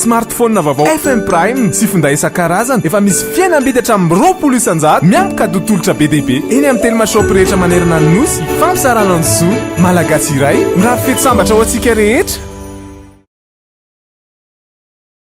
Smartphone vaovao FM Prime sy finday isan-karazany efa misy fihenam-bidy hatramin'ny roapolo isan-jato miampy kado tolotra be dia be eny amin'ny telma shop rehetra manerana ny Nosy. Fampizarana ny zo Malagasy iray mirary fety sambatra ho antsika rehetra.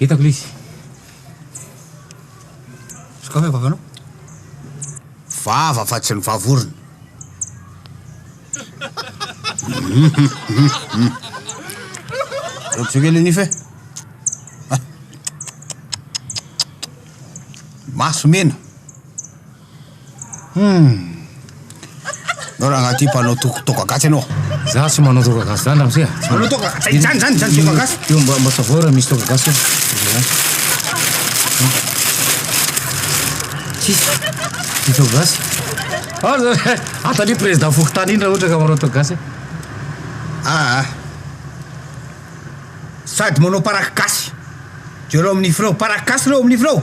Hitako lisy. Sokafa vavanao. Vava fa tsy ny vavorona. Rojo kely nify e. Maso mena. Humm! Enao rangahy ty mpanao tok- toaka gasy enao. Za tsy manao toaka gasy zany ramose a! Tsy Manao toaka ga- zay- zany- zany- zany toaka gasy. Io mba mba savoy raha misy toaka gasy Tsisy ny toaka gasy. Aza atania président fokontany iny raha ohatra ka manao toaka gasy. Aa sady manao paraky gasy jereo amin'ny freo paraky gasy reo amin'ny freo.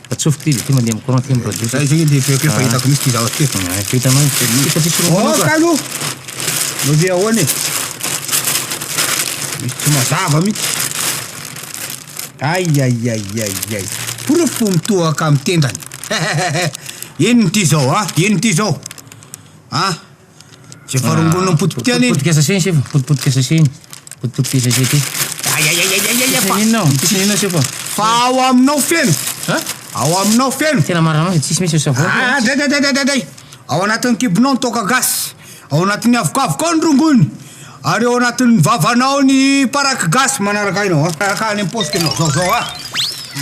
Atsofoko ty izy ity mandeha am courant ty am radio ty. Zay zay le feoko io fa hitako mihitsy ty zavatra ty. Fa hitanao io feo io fa tsisy roa manao ka. Aoka aloha! Mba ve ahoana e? Misy tsy mazava mihitsy. Aiaiaiaiai. Porofo fo mitohaka am tendany. Inona ity zao a? Inona ity zao a? Efa rongolona ny potipotika any. Potipotika sachet ny sefo, potipotika sachet ny. Potipotika sachet ty. Aiaiaiaiaiaia fa. Inona ao? Tsisy inona sefo. Fa ao aminao feno. Ha? Ao aminao feno. Tena marina loatra, tsisy misy savon. Ah, dai dai dai dai dai. Ao anatin'ny kibonao ny toaka gasy. Ao anatin'ny avokavokao ny rongony. Ary ao anatin'ny vavanao ny paraky gasy manaraka aina ao Araka any am-paosiko ianao Zao zao a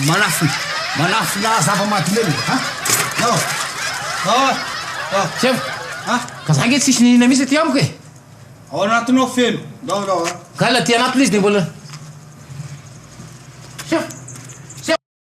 Manafina Manafina zava-mahadomelina ha Zao Zao a Zao Sefo Ha Ka za nge tsisy nihinana mihitsy aty amiko e Ao anatinao feno Zao zao a Ka aty anatiny izy de mbola Sefo Sefo.